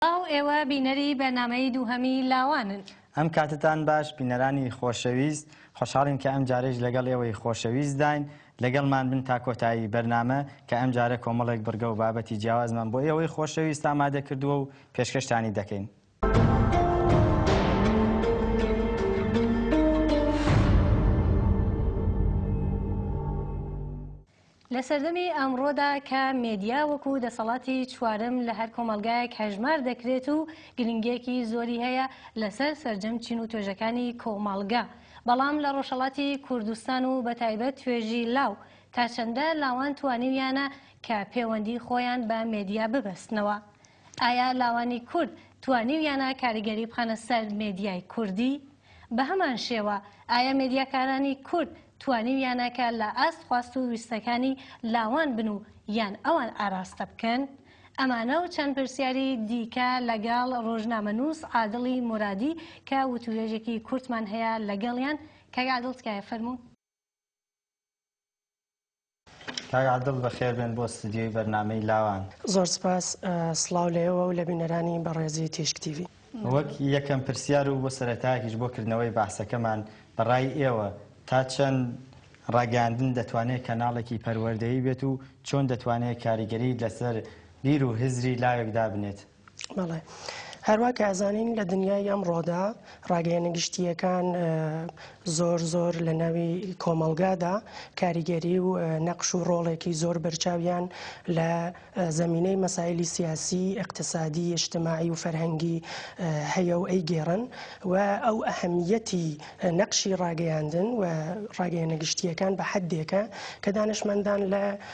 سڵاو ئێوە بینەری بەرنامەی دووهەمی لاوانن. ئەم کاتتان باش بینەرانی خۆشەویست خۆشحاڵین کە ئەم جارەیش لەگەڵ ئێوەی خۆشەویستداین لەگەڵمان بن تا کۆتایی بەرنامە کە ئەم جارە کۆمەڵێک بڕگە و بابەتی جیاوازمان بۆ ئێوەی خۆشەویست ئامادە کردووە و پێشکەشتانی دەکەین. لە سەردەمی ئەمڕۆدا کە مێدیا وەکو دەسەڵاتی چوارەم لە هەر کۆمەڵگایەک هەژمار دەکرێت و گرنگیەکی زۆری هەیە لەسەر سەرجەم چین و توێژەکانی کۆمەڵگە بەڵام لە ڕۆژهەڵاتی کوردستان و بە تایبەت توێژی لاو تا چەندە لاوان توانیویانە کە پێوەندی خۆیان بە مێدیا ببەستنەوە؟ ئایا لاوانی کورد توانیویانە کاریگەری بخەنە سەر مێدیای کوردی؟ بەهەمان شێوە ئایا مێدیاکارانی کورد توانیویانە کە لە ئاست خواست و ویستەکانی لاوان بن و یان ئەوان ئاراستە بکەن؟ ئەمانە و چەند پرسیاری دیکە لەگەڵ ڕۆژنامەنووس عادڵی مورادی کە وتووێژێکی کورتمان هەیە لەگەڵیان، کاک عادڵ تکایە فەرموو. کاک عادل بەخێر بێن بۆ ستدیۆی بەرنامەی لاوان. زۆر سپاس، سڵاو لە ئێوە و لە بینەرانی بەڕێزی تیشک تیڤی. وەک یەکەم پرسیار و بۆ سەرەتایەکیش بۆ کردنەوەی بەحسەکەمان، بە ڕای ئێوە تا چەند ڕاگەیاندن دەتوانێت کەناڵێکی پەروەردەیی بێت و چۆن دەتوانێت کاریگەری لەسەر بیر و هزری لاوێک دابنێت؟ بەڵێ هەروا کە ئەزانین لە دنیای ئەم ڕۆدا ڕاگەیەنە گشتیەکان زۆر زۆر لە ناوی کۆمەلگادا کاریگەری و نەقش و ڕۆڵێکی زۆر بەرچاویان لە زمینەی مەسایلی سیاسی اقتصادی اجتماعی و فەرهەنگی هەیە و ئەی گێڕن و ئەو ئەهمیەتی نەقشی ڕاگەیاندن و ڕاگەیەنە گشتیەکان بە حدێکە کە دانشمەندان لە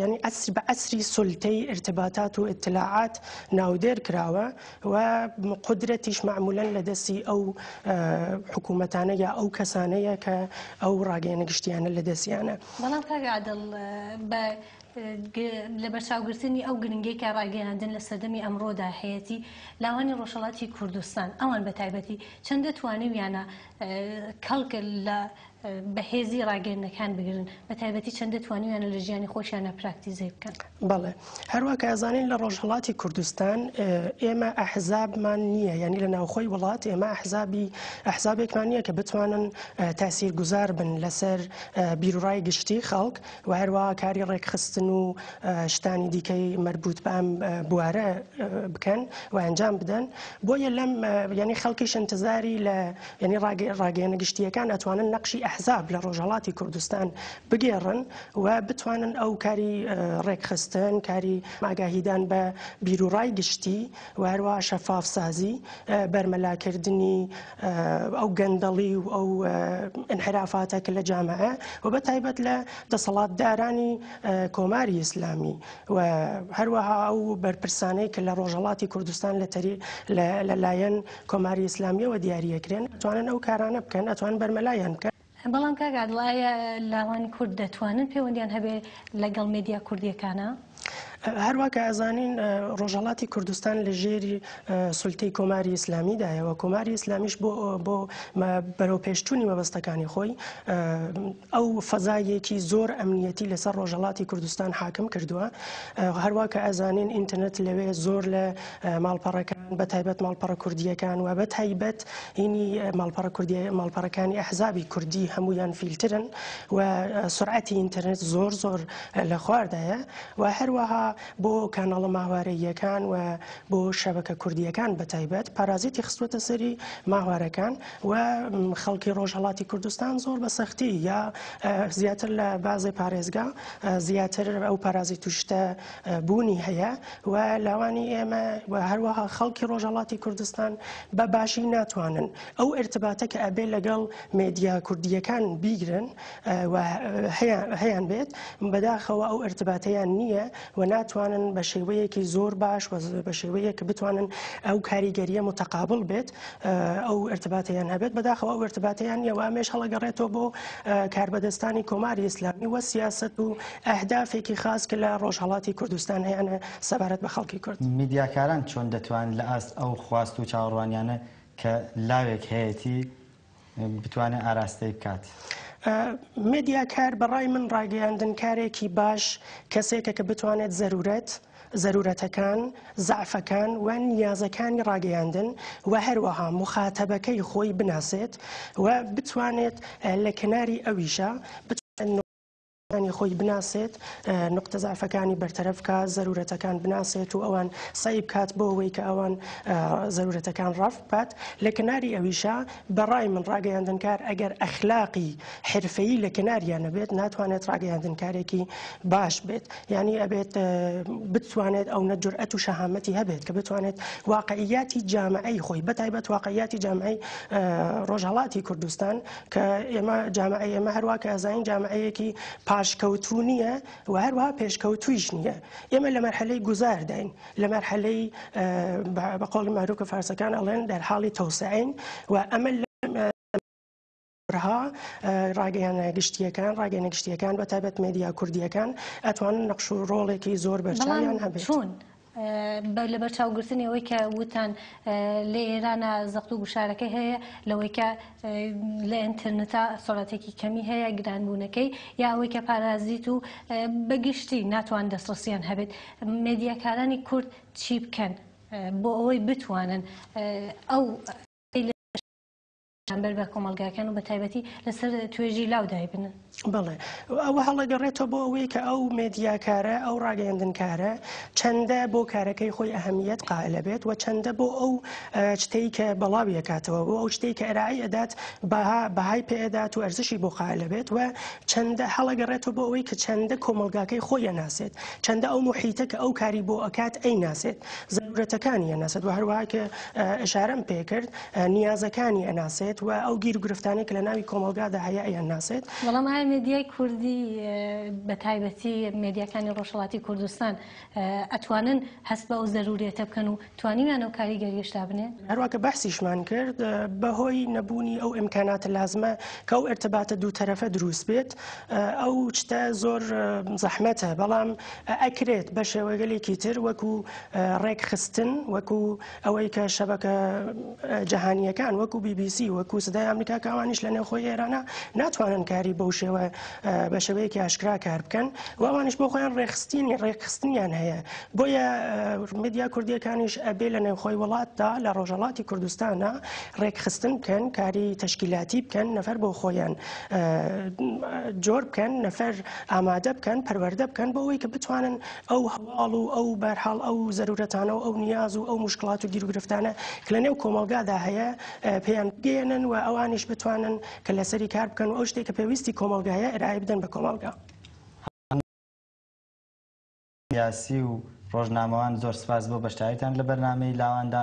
یانی ئەسر بە ئەسری سلتەی ارتباطات و اطلاعات ناودێر کراوە و قدرەتیش معمولەن لە دەستی ئەو حکوومەتانە یا ئەو کەسانەیە کە ئەو ڕاگەیەنە گشتیانە لە دەستیانە بەڵام کاگەعادڵ بە لە بەرچاوگرتنی ئەو گرنگی کە ڕاگەیاندن لە سەردەمی ئەمڕۆدا هەیەی لاوانی ڕۆژهڵاتی کوردستان ئەوان بە تایبەتی چەندە توانیویانە کەڵکە لە بەهێزی ڕاگەیندنەکان بگرن بە تایبەتی چەندە توانیویانە لە ژیانی خۆشیانە پراکتیزەی بکەن بەڵێ هەروە کەزانین لە ڕۆژهڵاتی کوردستان ئێمە ئەحزابمان نییە یعنی لە ناوخۆی وڵات ئێمە ئەحزابی ئەحزابێکمان نییە کە بتوانن تاسیر گوزار بن لەسەر بیرڕای گشتی خەڵک و هەروە کاری ڕێکخستن و شتانی دیکەی مربوط بەم بوارە بکەن و ئەنجام بدەن بۆیە لەم یعنی خەڵکیش انتظاری لە یانی ڕاگەیەنە گشتییەکان ئەتوانن نەقشی ئەحزاب لە ڕۆژهەڵاتی کوردستان بگێڕن و بتوانن ئەو کاری ڕێکخستن کاری ئاگاهیدان بە بیروڕای گشتی و هەروە شەفاف سازی بەرمەلاکردنی ئەو گەندەڵی و ئەو انحرافاتە کە لە جامعە و بە تایبەت لە دەسەڵاتدارانی کۆماری ئیسلامی و هەروەها ئەو بەرپرسانەی کە لە ڕۆژهڵاتی کوردستان لە تەری لەلایەن کۆماری ئیسلامیەوە دیاری ئەکرێن ئەتوانن ئەو کارانە بکەن ئەتوان بەرمەلایان بکەن. بەڵام کاک عادڵ ئایا لاوانی کورد دەتوانن پێوەندیان هەبێ لەگەڵ مێدیا کوردیەکانا؟ هەروا کە ئەزانین ڕۆژهەڵاتی کوردستان لە ژێری سولتەی کۆماری ئیسلامی دایەوە کۆماری ئیسلامیش بۆ بۆ بەرەو پێشچوونی مەبەستەکانی خۆی ئەو فەزایەکی زۆر ئەمنیەتی لەسەر ڕۆژەڵاتی کوردستان حاکم کردووە هەروە کە ئەزانین ئینتەرنێت لەوێ زۆر لە ماڵپەڕەکان بە تایبەت ماڵپەڕە کوردیەکان و بە تایبەت هینی ماڵپەڕە کوردی ماڵپەڕەکانی ئەحزابی کوردی هەمویان فیلترن و سرعەتی ئینتەرنێت زۆر زۆر لە خواردایە و هەروەها بۆ کاناڵە ماوارەیەکان و بۆ شەبەکە کوردیەکان بە تایبەت پارازیتی خستوەتە سەری ماوارەکان و خەڵکی ڕۆژهەڵاتی کوردستان زۆر بە سەختی یا زیاتر لە بازێ پارێزگا زیاتر ئەو پارازی توشتە بوونی هەیە و لاوانی ئێمە و هەروەها خەڵکی ڕۆژهڵاتی کوردستان بە باشی ناتوانن ئەو ارتباتە کە ئەبێ لەگەڵ مێدیا کوردیەکان بیگرن هەیان بێت بەداخەوە ئەو ارتباتیان نییە و ناتوانن بە شێوەیەکی زۆر باش بە شێوەیە کە بتوانن ئەو کاریگەریە متەقابل بێت ئەو ارتباتەیان هەبێت بەداخەوە ئەو ارتباتەیان نیە و ئەمێش هەڵەگەڕێتەوە بۆ کاربەدەستانی کۆماری ئیسلامی وە سیاست و ئەهدافێکی خاص کە لە ڕۆژهەڵاتی کوردستان هەیەە سەبارەت بە خەڵکی کورد میدیاکاران چۆن دەتوان لە ئاست ئەو خواست و چاوەڕوانیانە کە لاوێک هەیەتی بتوانێت ئاراستەی بکات. مێدیاکار بە ڕای من ڕاگەیاندنکارێکی باش کەسێکە کە بتوانێت زەرورەت، زەرورەتەکان، زەعفەکان و نیازەکانی ڕاگەیاندن و هەروەها موخاتەبەکەی خۆی بناسێت و بتوانێت لە کەناری ئەویشە بتوانێت انی خۆی بناسێت نقطە زعفەکانی بەرتەرەف کا زەرورەتەکان بناسێت و ئەوان سعی بکات بۆ ئەوەی کە ئەوان زەرورەتەکان ڕاف بات لە کناری ئەویشە بەڕای من ڕاگەیاندنکار ئەگەر ئەخلاقی حرفەی لە کناریانە بێت ناتوانێت ڕاگەیاندنکارێکی باش بێت یعنی ئەبێت بتوانێت ئەو نەجرئەت و شەهامەتی هەبێت کە بتوانێت واقعیاتی جامعی خۆی بەتایبەت واقعیاتی جامعی ڕۆژهڵاتی کوردستان کە ئێمە جامعەی ئێمە هەروە کە ئەزانین جامعەیەکی پاشکەوتو نییە و هەروە پێشکەوتویش نییە ئێمە لە مەرحەلەی گوزارداین لە مەرحەلەی بە قۆڵ مەروکە فارسەکان ئەڵێن دەرحاڵی تەوسعین و ئەمە ڕها ڕاگەیانە گشتیەکان ڕاگەنە گشتیەکان بە تابەت مدیا کوردیەکان ئەتوانن نەخش و ڕۆڵێکی زۆر بەرچیان هەبێت. بە لەبەرچاوگرتنی ئەوەی کە وتان لە ئێرانە زەخت و گوشارەکەی هەیە لەوەی کە لە ئەتەرنتا سۆڵاتێکی کەمی هەیە گرانبوونەکەی یا ئەوەی کە پارازیت و بەگشتی ناتوان دەستڕسیان هەبێت مێدیاکارانی کورد چی بکەن بۆ ئەوەی بتوانن ئەو بەرامبەر بە کۆمەڵگاکان و بە تایبەتی لەسەر توێژی لاو دایبنن بڵێ ئەوە هەڵەگەڕێتەوە بۆ ئەوەی کە ئەو مێدیاکارە ئەو ڕاگەیاندنکارە چەندە بۆ کارەکەی خۆی ئەهمیت قائلە بێت و چەندە بۆ ئەو شتەی کە بەڵاویەکاتەوە بۆ ئەو شتێک کە ئەرایی ئەدات بەها بەهای پێدات و ئەرزشی بۆ قائلە بێت و چەندە هەڵەگەڕێتەوە بۆ ئەوەی کە چەندە کۆمەلگاکەی خۆیە ناسێت چەندە ئەو محیتە کە ئەو کاری بۆ ئەکات ئەی ناسێت زەرورەتەکانی ناسێت و هەروواکە ئەشارم پێکرد نیازەکانی ئەناسێت و ئەو گیر و گرفتانەی کە لە ناوی کۆمەڵگادا هەیە ئەیانناسێت. بەڵام ئایا مێدیای کوردی بە تایبەتی مێدیاکانی ڕۆژهەڵاتی کوردستان ئەتوانن هەست بە ئەو زەروریەتە بکەن و توانیویان ئەو کاریگەرییەش دابنێن؟ هەروا کە بەحسیشمان کرد بەهۆی نەبوونی ئەو ئیمکاناتە لازمە کە ئەو ئەرتەباتە دوو تەرەفە دروست بێت ئەو شتە زۆر زەحمەتە بەڵام ئەکرێت بە شێوەگەلێکی تر وەکو ڕێکخستن وەکو ئەوەی کە شەبەکە جیهانییەکان وەکو بی بی سی وەکو سدای ئەمریکا کە ئەوانیش لە نێوخۆی ئێرانە ناتوانن کاری بەو شێوە بە شێوەیەکی ئاشکرا کار بکەن و ئەوانیش بۆ خۆیان ڕێخستینی ڕێکخستنیان هەیە بۆیە مدیا کوردیەکانیش ئەبێ لە نێوخۆی وڵاتدا لە ڕۆژەڵاتی کوردستانە ڕێکخستن بکەن کاری تشکیلاتی بکەن نەفەر بۆ خۆیان جۆر بکەن نەفەر ئامادە بکەن پەروەەردە بکەن بۆ ئەوەی کە بتوانن ئەو هەواڵ و ئەو بەرحاڵ ئەو زەرورەتانە و ئەو نیاز و ئەو مشکلات و گیرروگرفتانە کە لە نێو کۆمەلگادا هەیە پێیان بگەێنن و ئەوانیش بتوانن کە لەسەری کار بکەن و ئەو شتێک کە پێویستی کۆمەلگایە ئرای بدەن بە کۆمەلگا. سیاسی و ڕۆژنامەوان زۆر سپاس بۆ بەشداریتان لە بەرنامەی لاواندا.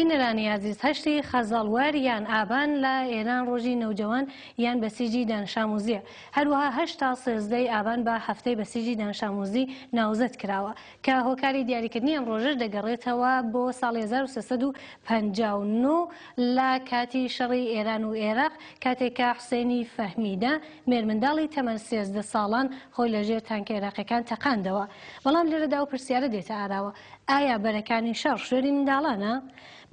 بینەرانی ئازیز هەشتی خەزەڵوەر یان ئابان لە ئێران ڕۆژی نەوجەوان یان بەسیجی دانشاموزیە هەروەها هەشت تا سێزدە ی ئابان بە هەفتەی بەسیجی دانشاموزی ناوزەد کراوە کە هۆکاری دیاریکردنی ئەم ڕۆژەش دەگەڕێتەوە بۆ ساڵی هەزار و سێ سەد و پەنجا و نۆ لە کاتی شەڕی ئێران و ئێراق کاتێک کە حوسەینی فەهمیدە مێرمنداڵی تەمەن سێزدە ساڵان خۆی لە ژێر تانکە ئێراقیەکان تەقاندەوە بەڵام لێرەدا ئەو پرسیارە دێتە ئاراوە ئایا بەرەکانی شەڕ شوێنی منداڵانە؟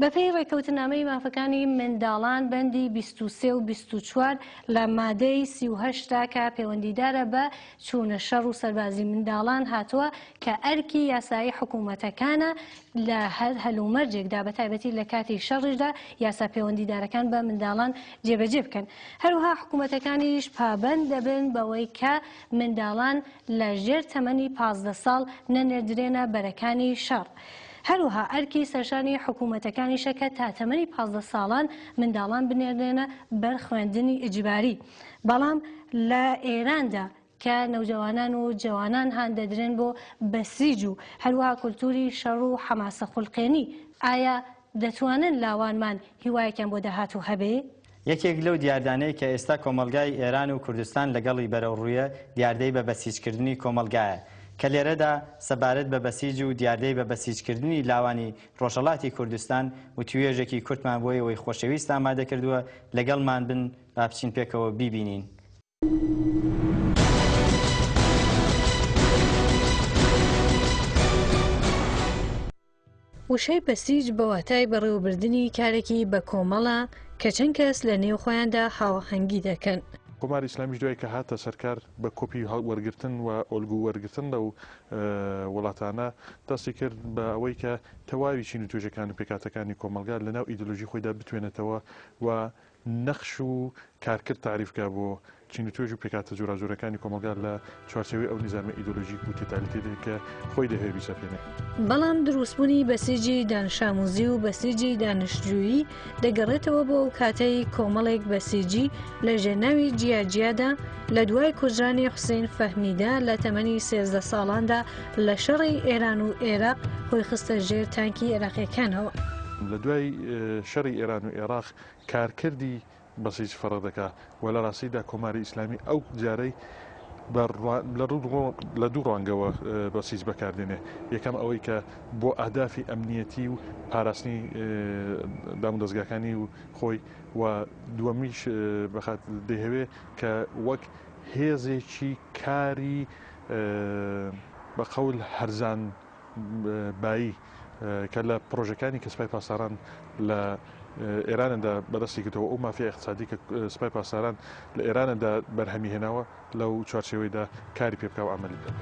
بەپێی ڕێکەوتنامەی مافەکانی منداڵان بەندی بیست و سێ و بیست و چوار لە مادەی سی و هەشت دا کە پێوەندیدارە بە چوونە شەڕ و سەربازی منداڵان هاتووە کە ئەرکی یاسایی حکوومەتەکانە لە هەر هەلومەرجێکدا بەتایبەتی لە کاتی شەڕیشدا یاسا پێوەندیدارەکان بە منداڵان جێبەجێ بکەن هەروەها حکوومەتەکانیش پابەند دەبن بەوەی کە منداڵان لە ژێر تەمەنی پازدە ساڵ نەنێردرێنە بەرەکانی شەڕ. هەروەها ئەرکی سەرشانی حکوومەتەکانیشە کە تا تەمەنی پازدە ساڵان منداڵان بنێردرێنە بەر خوێندنی ئیجباری. بەڵام لە ئێراندا کە نەوجەوانان و جەوانان هان دەدرێن بۆ بەسیج و هەروەها کولتووری شەڕ و حەماسەخولقێنی، ئایا دەتوانن لاوانمان هیوایەکیان بۆ داهاتوو هەبێ؟ یەکێک لەو دیاردانەی کە ئێستا کۆمەڵگای ئێران و کوردستان لەگەڵی بەرەوڕوویە دیاردەی بە بەسیجکردنی کۆمەڵگایە کە لێرەدا سەبارەت بە بەسیج و دیاردەی بە بەسیجکردنی لاوانی ڕۆژهەڵاتی کوردستان وتووێژێکی کورتمان بۆ ئێوەی خۆشەویست ئامادەکردووە لەگەڵمان بن با بچین پێکەوە بیبینین. وشەی بەسیج بە واتای بەڕێوەبردنی کارێکی بە کۆمەڵە کە چەند کەس لە نێو خۆیاندا هاوەهەنگی دەکەن. کۆماری ئیسلامیش دوای کە هاتە سەرکار بە کۆپی وەرگرتن و ئۆلگو وەرگرتن لەو وڵاتانە دەستی کرد بە ئەوەی کە تەواوی چین و توێژەکان و پێکاتەکانی کۆمەلگا لەناو ئیدلۆژی خۆیدا بتوێنێتەوە و نەخش و کارکرد تاریف کا بۆ چین و توێژ و پێکهاتە جۆراجۆرەکانی کۆمەڵگا لە چوارچێوەی ئەو نیزامە ئیدۆلۆژیک و تۆتالیتەیەدا کە خۆی دەهەوێ بیسەپێنێ. بەڵام دروستبوونی بەسیجی دانشامووزی و بەسیجی دانشجوویی دەگەڕێتەوە بۆ ئەو کاتەی کۆمەڵێک بەسیجی لە ژێرناوی جیاجیادا لە دوای کوژرانی حوسەین فەهمیدا لە تەمەنی سێزدە ساڵاندا لە شەڕی ئێران و ئێراق خۆی خستە ژێر تانکی ئێراقییەکانەوە. لە دوای شەڕی ئێران و ئێراق کارکردی بەسیج فەڕە دەکا و لە ڕاستیدا کۆماری ئیسلامی ئەو جارەی بە لە دوو ڕوانگەوە بەسیج بەکاردێنێ یەکەم ئەوەی کە بۆ ئەهدافی ئەمنیەتی و پاراستنی دام دەستگاکانی و خۆی و دووەمیش بەخات دەهەوێ کە وەک هێزێکی کاری بە قەول هەرزان بایی کە لە پڕۆژەکانی کە سپای پاسداران لە ئێراندا بەدەستی گرتەوە ئەو مافیا اقتصادی کە سپای پاسداران لە ئێراندا بەرهەمی هێناوە لەو چوارچێوەیدا کاری پێ بکاو ئەمەلی بکات.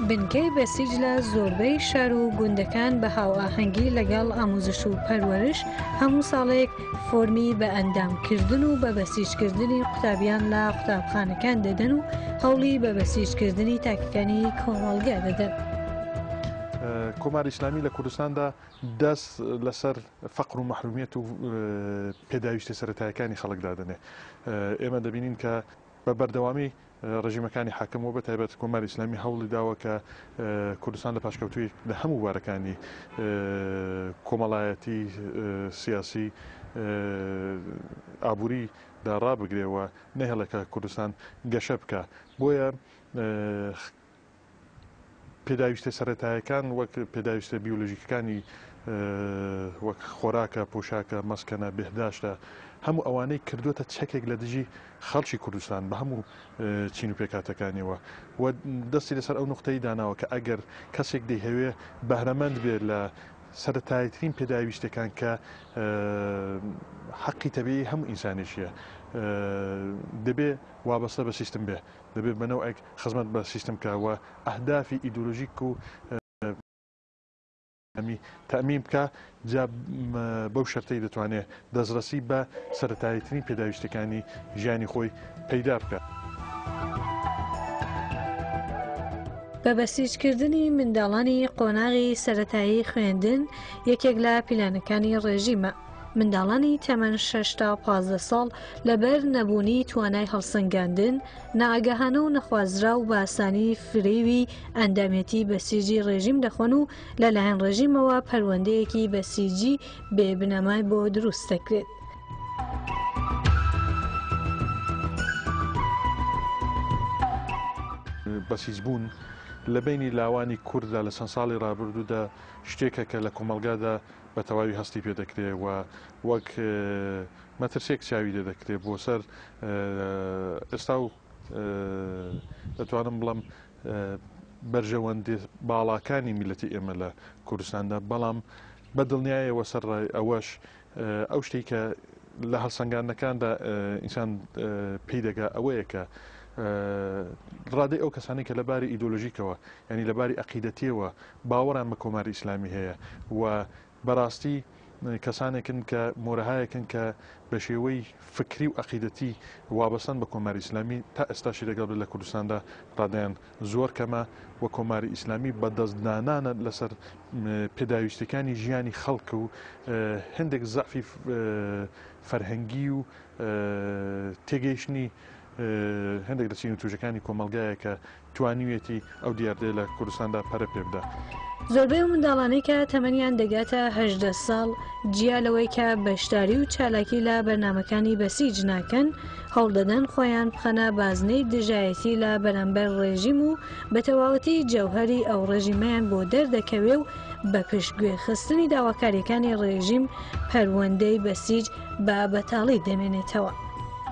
بنکەی بەسیج لە زۆربەی شار و گوندەکان بە هاوئاهەنگی لەگەڵ ئاموزش و پەروەرش هەموو ساڵێک فۆرمی بە ئەندام کردن و بە بەسیجکردنی قوتابیان لە قوتابخانەکان دەدەن و هەوڵی بە بەسیجکردنی تاکەکانی کۆمەڵگە دەدەن. کۆمار ئیسلامی لە کوردستاندا دەست لەسەر فەقر و محرومیت و پێداویستە سەتایەکانی خەڵک دادنێ ئێمە دەبینین کە بە بەردەوامی ڕێژیمەکانی حاکم و بەتایبەت کۆماری ئیسلامی هەوڵی داوە کە کوردستان لە پاشکەوتووی لە هەموو بارەکانی کۆمەڵایەتی سیاسی ئابووری دا ڕابگرێەوە نەهێڵێکە کوردستان گەشە بکە بۆیە پێداویستە سەرەتایەکان وەک پێداویستە بیولۆژیکەکانی وەک خۆراکە پۆشاکە مەسکەنە بهداشتە هەموو ئەوانەی کردوتە چەکێک لە دژی خەڵکی کوردستان بە هەموو چین و پێکاتەکانیەوە و دەستی لەسەر ئەو نقطەی داناوە کە ئەگەر کەسێک دەیهەوێ بەهرەمەند بێت لە سەتایترین پێداویستەکان کە حەقی تەبیی هەموو ئینسانێکیە دەبێ وابەستە بە سیستم بێ دەبێت بە نەوعێک خزمەت بە سیستم بکا و ئەهدافی ئیدۆلۆژیک و ئەمی تەمین بکە جا بەو شەرتەی دەتوانێت دەستڕەسی بە سەتاییترین پێداویستەکانی ژیانی خۆی پەیدا بکات. بە بەسیجکردنی منداڵانی قۆناغی سەتایی خوێندن یەکێک لە پیلانەکانی ڕێژیمە. منداڵانی تەمەن شەش تا پازدە ساڵ لەبەر نەبوونی توانای هەڵسەنگاندن نائاگەهانە و نەخوازرا و باسانی فرێوی ئەندامێتی بەسیجی ڕێژیم دەخۆن و لەلایەن ڕێژیمەوە پەروەندەیەکی بەسیجی بێ بنەمای بۆ دروست دەکرێت. بەسیج بوون لە بینی لاوانی کورددا لە چەند ساڵی ڕابردوودا شتێکە کە لە کۆمەلگادا بە تەواوی هەستی پێ دەکرێ و وەک مەترسێک چاوی لێ دەکرێ بۆ سەر ئێستا و دەتوانم بڵم بەرژەوەندی باڵاکانی میلەتی ئێمە لە کوردستاندا بەڵام بە دڵنیایەوە سەر ڕای ئەوەش ئەو شتێک کە لە هەڵسەنگانەکاندا ئینسان پێی دەگا ئەوەیە کە ڕادەی ئەو کەسانی کە لەباری ئیدۆلۆژیکەوە ینی لەباری عقیدەتیەوە باوەڕیان بە کۆماری ئیسلامی هەیە و بەراستی کەسانێکن کە مۆرەهایەکن کە بە شێوەی فکری و ئەقیدەتی وابەستەن بە کۆماری ئیسلامی تا ئێستاشی لەگەڵ بێت لە کوردستاندا رادەیان زۆر کەمە و کۆماری ئیسلامی بە دەستدانانە لەسەر پێداویستیەکانی ژیانی خەڵک و هەندێک زەعفی فەرهەنگی و تێگەیشتنی هەندێک لە چین و توژەکانی کۆمەلگایە کە توانیویەتی ئەو دیاردەیە لە کوردستاندا پەرە پێ بدا. زۆربەی ئەو منداڵانەی کە تەمەنیان دەگاتە هەژدە ساڵ جیا لەوەی کە بەشداری و چالاکی لە بەرنمەکانی بەسیج ناکەن هەوڵدەدەن خۆیان بخەنە بازنەی دژایەتی لە بەرامبەر ڕێژیم و بە تەواوەتی جەوهری ئەو ڕێژیمەیان بۆ دەردەکەوێ و بە پشت گوێ خستنی داواکاریەکانی ڕێژیم پەروەندەی بەسیج بە بەتاڵی دەمێنێتەوە.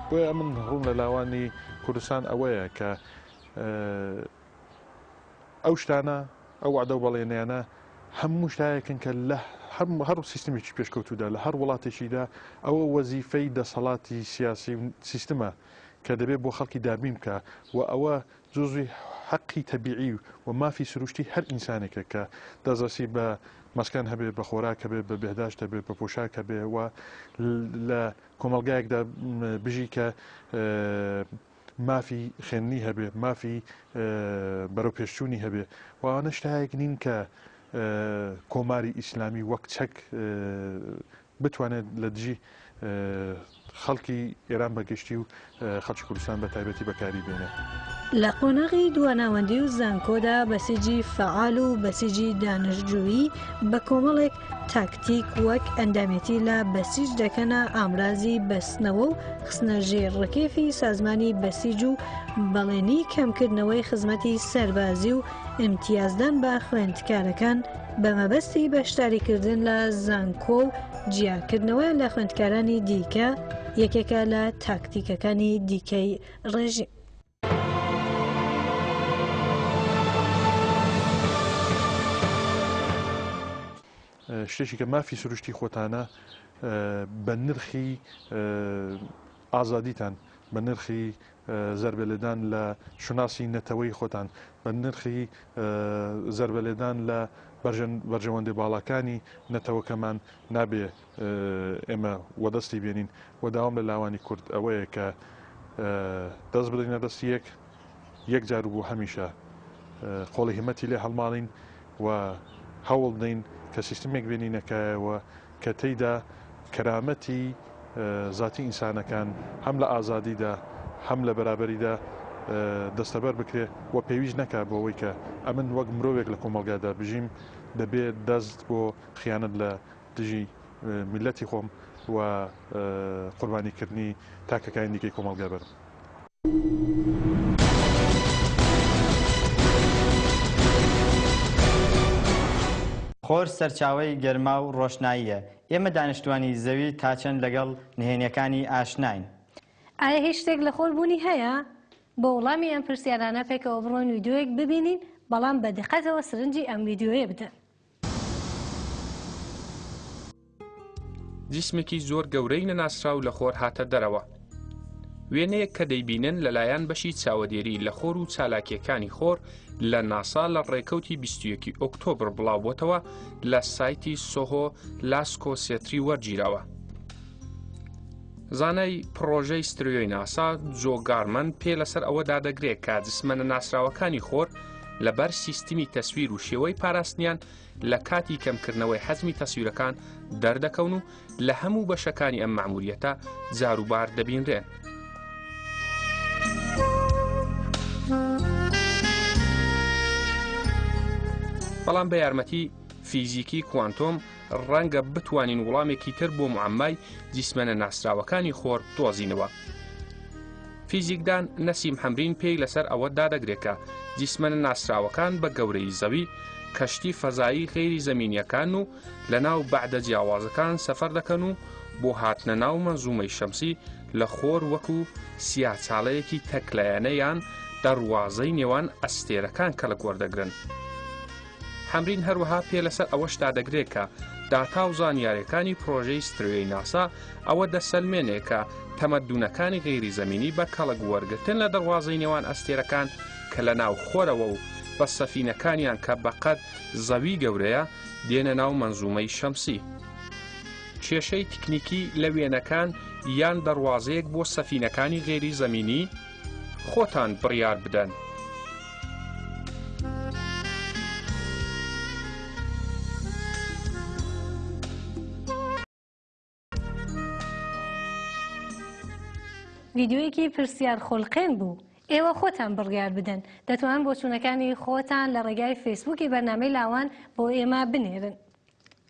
بۆیە من ڕوون لە لاوانی کوردستان ئەوەیە کە ئەو شتانە ئەو وعدە و بەڵێنیانە هەموو شتایەکن کە لە هەر سیستمێکی پێشکەوتودا لە هەر وڵاتێکیدا ئەوە وەزیفەی دەسەڵاتی سیاسی سیستمە کە دەبێت بۆ خەڵکی دابین بکە و ئەوە جزوی حەقی تەبیعی و مافی سروشتی هەر ئینسانێکە کە دەزەسی بە مەسکەن هەبێ بە خۆراک هەبێ بە بەهداشت هەبێ بە پۆشاک هەبێ و لە کۆمەلگایەکدا بژی کە مافی خوێندنی هەبێ، مافی بەرەوپێشچوونی هەبێ و ئەوانە شتایەک نین کە کۆماری ئیسلامی وەک چەک بتوانێت لە دژی خەڵکی ئێران بەگشتی و خەڵکی کوردستان بە تایبەتی بەکاری بێنێت. لە قۆناغی دواناوەندی و زانکۆدا بەسیجی فەعال و بەسیجی دانشجووی بە کۆمەڵێک تاکتیک وەک ئەندامێتی لە بەسیج دەکەنە ئامرازی بەستنەوە و خستنە ژێر ڕکێفی سازمانی بەسیج و بەڵێنی کەمکردنەوەی خزمەتی سەربازی و ئیمتیازدان بە خوێندکارەکان بە مەبەستی بەشداریکردن لە زانکۆ و جیاکردنەوە لە خوێندکارانی دیکە یەکێکە لە تاکتیکەکانی دیکەی ڕێژیم. شتێکی کە مافی سروشتی خۆتانە بە نرخی ئازادیتان بە نرخی زربەلێدان لە شوناسی نەتەوەی خۆتان بە نرخی زربەلێدان لە بەرژەوەندی باڵاکانی نەتەوەکەمان نابێ ئێمە وەدەستی بێنین و داوام لە لاوانی کورد ئەوەیە کە دەست بدەینە دەستی یەک یەک جار و بۆ هەمیشە قۆڵی هەمەتی لێ هەڵماڵین و هەوڵ دەین کە سیستمێک بێنینەکایەوە کە تێیدا کەرامەتی زاتی ئینسانەکان هەم لە ئازادیدا هەم لە بەرابەریدا دەستەبەر بکرێ و پێویست نەکا بۆ ئەوەی کە ئەمن وەک مرۆڤێک لە کۆمەلگادا بژیم دەبێت دەست بۆ خیانەت لە دژی میللەتی خۆم و قوربانی کردنی تاکەکانی دیکەی کۆمەڵگا بەرم. خۆر سەرچاوەی گەرما و ڕۆشناییە، ئێمە دانیشتووانی زەوی تاچەند لەگەڵ نهێنییەکانی ئاشناین؟ ئایا هیچ شتێک لە خۆر بوونی هەیە؟ بۆ وڵامی ئەم پرسیارانە پێکەوە بڕۆین ویدیۆیەک ببینین، بەڵام بە دقەتەوە سرنجی ئەم ویدیۆیە بدەن. جسمێکی زۆر گەورەی نەناسراو لە خۆر هاتە دەرەوە. وێنەیەک کە دەیبینن لەلایەن بەشی چاوەدێری لە خۆر و چالاکیەکانی خۆر لە ناسا لە ڕێکەوتی 21 ئۆکتۆبر بڵاوبتەوە لە سایتی سۆهۆ لاسکۆ سێتری وەرگیراوە. زانای پڕۆژەی ستریۆی ناسا جۆ گارمەن پێ لەسەر ئەوە دادەگرێت کە جسمەنە ناسراوەکانی خۆر لەبەر سیستمی تەسویر و شێوەی پاراستنیان لە کاتی کەمکردنەوەی حەزمی تەسویرەکان دەردەکەون و لە هەموو بەشەکانی ئەم معمولیەتە جاروبار دەبینرێن. بەڵام بە یارمەتی فیزیکی کوانتۆم ڕەنگە بتوانین وڵامێکی تر بۆ معمای جیسمەنە ناسراوەکانی خۆر دۆزینەوە. فیزیکدان نەسیم حەمرین پێی لەسەر ئەوە دادەگرێکە جیسمەنە ناسراوەکان بە گەورەی زەوی کەشتی فەزایی غێری زمینیەکان و لە ناو بەعدە جیاوازەکان سەفەر دەکەن و بۆ هاتنە ناو مەنزومەی شەمسی لە خۆر وەکو سیاچاڵەیەکی تەکلایەنەیان دەڕوازەی نێوان ئەستێرەکان کەڵک وەردەگرن. حەمرین هەروەها پێ لەسەر ئەوەش دادەگرێت کە داتا و زانیارەکانی پرۆژەی ستروێی ناسا ئەوە دەسەلمێنێ کە تەمەدونەکانی غێری زمینی بە کەڵک وەرگتن لە دەواازەی نێوان ئەستێرەکان کە لە ناو خۆرەوە و بە سەفینەکانیان کە بەقەت زەوی گەورەیە دێنە ناو منزومەی شەمسی. کێشەی تکنیکی لە وێنەکان یان دەواازەیەک بۆ سەفینەکانی غێری زمینی خۆتان بڕیار بدەن. ڤیدیۆیەکی پرسیار خولقێن بوو. ئێوە خۆتان بڕیار بدەن دەتوان بۆچوونەکانی خۆتان لە ڕێگای فەیسبووکی بەرنامەی لاوان بۆ ئێمە بنێرن.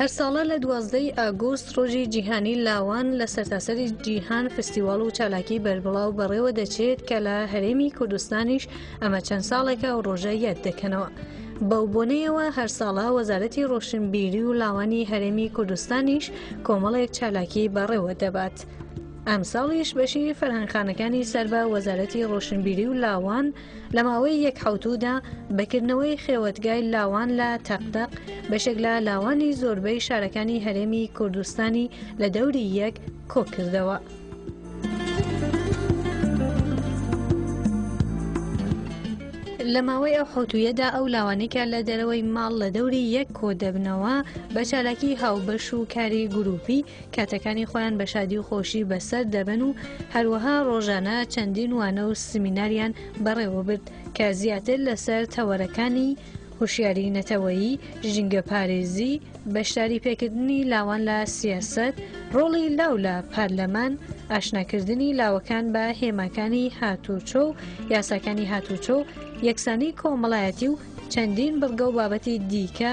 هەر ساڵە لە دوازدە ی ئاگوست ڕۆژی جیهانی لاوان لە سەرتاسەری جیهان فستیواڵ و چالاکی بەربڵاو بەڕێوە دەچێت کە لە هەرێمی کوردستانیش ئەمە چەند ساڵێکە ئەو ڕۆژە یاد دەکەنەوە. بەو بۆنەیەوە هەرساڵە وەزارەتی ڕۆشنبیری و لاوانی هەرێمی کوردستانیش کۆمەڵێک چالاکی بەڕێوە دەبات. ئەمساڵیش بەشی فەرهەنگخانەکانی سەر بە وەزارەتی ڕۆشنبیری و لاوان لە ماوەی یەک حەوتوودا بەکردنەوەی خێوەتگای لاوان لە تەقدەق بەشێک لە لاوانی زۆربەی شارەکانی هەرێمی کوردستانی لە دەوری یەک کۆکردەوە. لە ماوەی ئەو حوتویەدا ئەو لاوانێکە لە دەرەوەی ماڵ لە دەوری یەک کۆ دەبنەوە بە چالاکی هاوبەش و کاری گروپی کاتەکانی خۆیان بە شادی و خۆشی بەسەر دەبەن و هەروەها ڕۆژانە چەندین وانە و سمیناریان بەڕێوە برد کە زیاتر لەسەر تەوەرەکانی هوشیاری نەتەوەیی ژینگە پارێزی بەشداری پێکردنی لاوان لە سیاست ڕۆڵی لاو لە پارلەمان ئاشناکردنی لاوەکان بە هێماکانی هاتوچۆ و یاساکانی هاتوچۆ یەکسانی کۆمەڵایەتی و چەندین بڕگە و بابەتی دیکە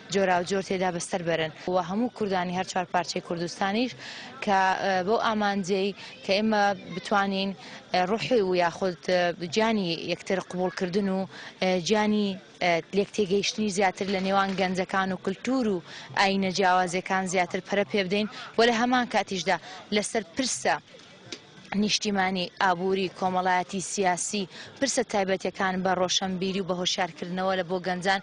جۆراوجۆر تێدا بەستەر بەرن و هەموو کوردانی هەر چوار پارچەی کوردستانیش کە بەو ئامانجەی کە ئێمە بتوانین ڕوحی و یاخود گیانی یەکتر قوبولکردن و گیانی لێک تێگەیشتنی زیاتر لە نێوان گەنجەکان و کللتور و ئاینە جیاوازەکان زیاتر پەرە پێ بدەین و لە هەمان کاتیشدا لەسەر پرسە نیشتیمانی، ئابووری، کۆمەڵایەتی، سیاسی، پرسە تایبەتەکان بە ڕۆشەنبیری و بە هۆشیارکردنەوە لە بۆ گەنجان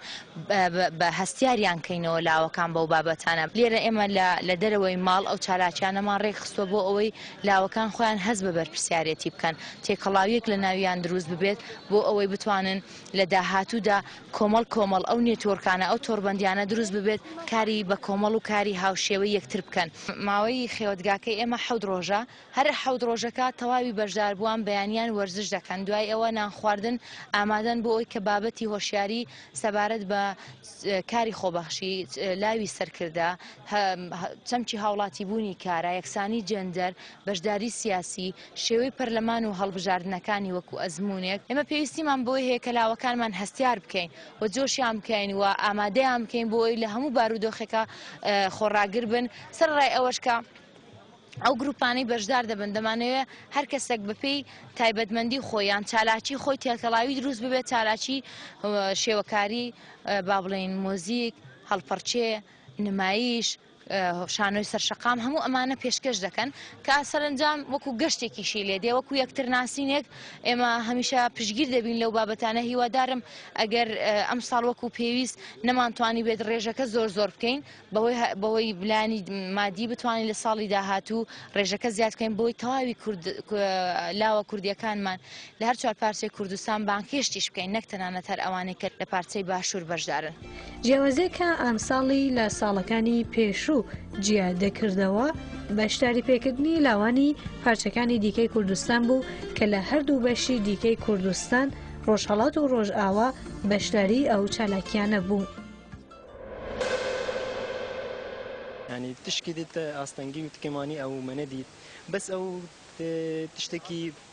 بە هەستیاریان کەینەوە لاوەکان بەو بابەتانە. لێرە ئێمە لە دەرەوەی ماڵ ئەو چالاکیانەمان ڕێک خستوە بۆ ئەوەی لاوەکان خۆیان هەست بە بەرپرسیارێتی بکەن، تێکەڵاویەک لە ناویان دروست ببێت بۆ ئەوەی بتوانن، لە داهاتوودا کۆمەڵ کۆمەڵ ئەو نێتۆرکانە ئەو تۆربەندیانە دروست ببێت کاری بە کۆمەڵ و کاری هاوشێوەی یەکتر بکەن. ماوەی خێوەتگاکەی ئێمە حەوت ڕۆژە، هەر حەوت ڕۆژەکە تەواوی بەشداربووان بەیانیان وەرزش دەکەن، دوای ئەوە نان خواردن ئامادەن بۆ ئەوەی کە بابەتی هۆشیاری سەبارەت بە کاری خۆبەخشی، لاوی سەرکردە، چەمکی هاوڵاتیبوونی کارا، یەکسانی جێندەر، بەشداری سیاسی، شێوەی پەرلەمان و هەڵبژاردنەکانی وەکو ئەزموونێک، ئێمە پێویستیمان بەوەی هەیە کە لاوەکانمان هەستیار بکەین و جۆشیان بکەین و ئامادەیان بکەین بۆ ئەوەی لە هەموو بارودۆخێکا خۆڕاگر بن، سەرەڕای ئەوەش کە ئەو گرووپانەی بەشدار دەبن دەمانەوێت هەر کەسێک بەپێی تایبەتمەندی خۆی یان چالاکی خۆی تێکەڵاوی دروست ببێت چالاکی شێوەکاری با بڵێین مۆزیک، هەڵپەڕکێ، نمایش، شانۆی سەرشەقام هەموو ئەمانە پێشکەش دەکەن کە سەرنجام وەکو گەشتێکیشی لێ دێ وەکو یەکترناسینێک ئێمە هەمیشە پشگیر دەبین لەو بابەتانە هیوادارم ئەگەر ئەم ساڵ وەکو پێویست نەمانتوانی بێت ڕێژەکە زۆر زۆر بکەین بەوەی بەوەی بلانی مادی بتوانین لە ساڵی داهاتوو ڕێژەکە زیادکەین بۆی تەواوی کورد لاوە کوردیەکانمان لە هەر چوار پارچەی کوردستان بانگهێشتیش بکەین نەک تەنانەت هەر ئەوانەی کە لە پارچەی باشوور بەشدارن. جیاوازیەکە ئەمساڵی لە ساڵەکانی پێشوو جیا دەکردەوە بەشداری پێکردنی لاوانی پارچەکانی دیکەی کوردستان بوو کە لە هەردوو بەشی دیکەی کوردستان ڕۆژهەڵات و ڕۆژئاوا بەشداری ئەو چالاکیانە بوو. ینی تشکی دیت ئاستەنگی و تکێمانی ئەو منە دیت بەس ئەو تشتێکی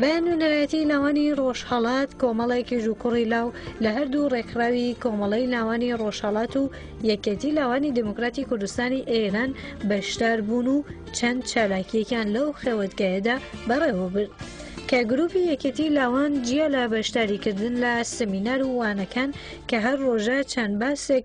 بە نوێنەرایەتی لاوانی ڕۆژهڵات کۆمەڵێکی ژووکوڕی لاو لە هەردوو ڕێکخراوی کۆمەڵی لاوانی ڕۆژهڵات و یەکێتی لاوانی دموکراتی کوردستانی ئێران بەشدار بوون و چەند چالاکیەکان لەو خێوەتگایەدا بەڕێوە برد. کە گروپی یەکێتی لاوان جیا لە بەشداریکردن لە سمینار و وانەکان کە هەر ڕۆژە چەند باسێک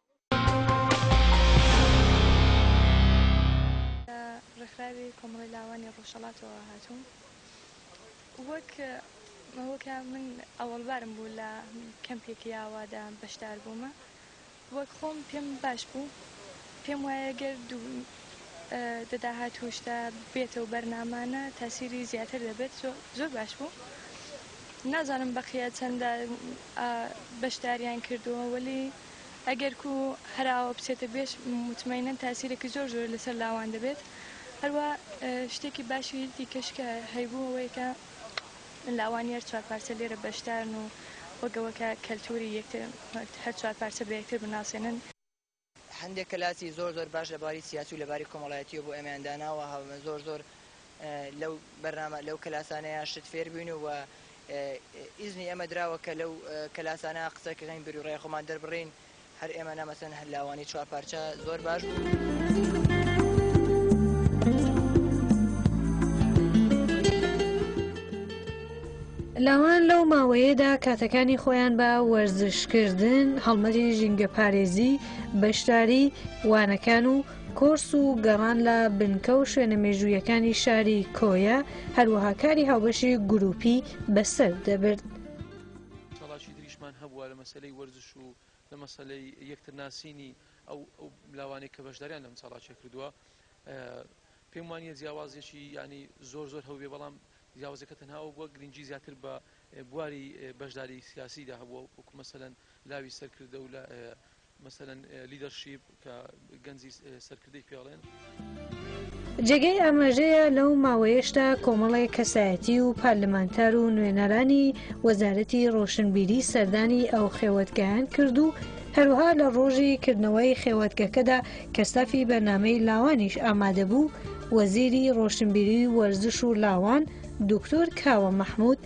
لە ڕێکخراوی کۆمەڵەی لاوانی ڕۆژهەڵاتەوە هاتووم وەک ئەوەکە من ئەوەڵبارم بوو لە کەمپێکی ئاوادا بەشدار بوومە وەک خۆم پێم باش بوو پێم وایە گەر دەداهات توشدا بێتە و بەرنامانە تاسیری زیاتر دەبێت زۆر باش بوو نازانم بەقیە چەندە بەشداریان کردووە وەلی ئەگەر کو هەر ئاوا بچێتە بێش متمەینەن تاسیرەکی زۆر زۆر لەسەر لاوان دەبێت هەروە شتێکی باشی دیکەش کە هەیبوو ئەوەیە کە لاوانی هەر چوار پارچە لێرە بەشدارن و وەگەوەکە کەلتوری یەکتر هەر چوار پارچە بە یەکتر بناسێنن. هەندێک کەلاسی زۆر زۆر باش لە باری سیاسی و لە باری کۆمەڵایەتیەوە بۆ ئێمەیان داناوە زۆر زۆر لەو بەرنامە لەو کەلاسانەیا شت فێر بووین و ئیزنی ئێمە دراوە کە لەو کەلاسانە قسە کەین بیر و ڕای خۆمان دەربڕین هەر ئێمە نا مەسەن هەر لاوانی چوار پارچە زۆر باش بوو. لاوان لەو ماوەیەدا کاتەکانی خۆیان بە وەرزشکردن هەڵمەری ژینگە پارێزی بەشداری وانەکان و کۆرس و گەڕان لە بنکە و شوێنە مێژوویەکانی شاری کۆیە هەروەها کاری هاوبەشی گروپی بەسەر دەبرد. چاڵاکی تریشمان هەبووە لە مەسەلەی وەرزش و لە مەسەلەی یەکتر ناسینی ئەو لاوانەی کە بەشداریان لەم چاڵاکیە کردووە پێم وانە جیاوازێکی ینی زۆر زۆر هەوێ بەڵام جیاوازەکە تەنها ئەو بووە گرنگجی زیاتر بە بواری بەشداری سیاسیدا هەبووە وکو مەسەەن لاوی سەرکردە و لە جێگای ئاماژەیە لەو ماوەیەشدا کۆمەڵێک کەسایەتی و پارلمانتار و نوێنەرانی وەزارەتی ڕۆشنبیری سەردانی ئەو خێوەتگایەن کرد و هەروەها لە ڕۆژی کردنەوەی خێوەتگەکەدا کە ستافی بەرنامەی لاوانیش ئامادەبوو وەزیری ڕۆشنبیری و وەرزش و لاوان دوکتۆر کاوە مەحمود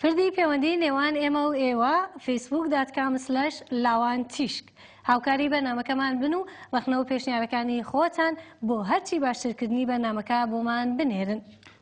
پردی پەیوەندی نێوان ئێمە و ئێوە فیسبوک داتکام سلش لاوان تیشک هاوکاری بەنامەکەمان بن و ڕخنە و پێشنیارەکانی خۆتان بۆ هەرچی باشترکردنی بەنامەکە بۆمان بنێرن.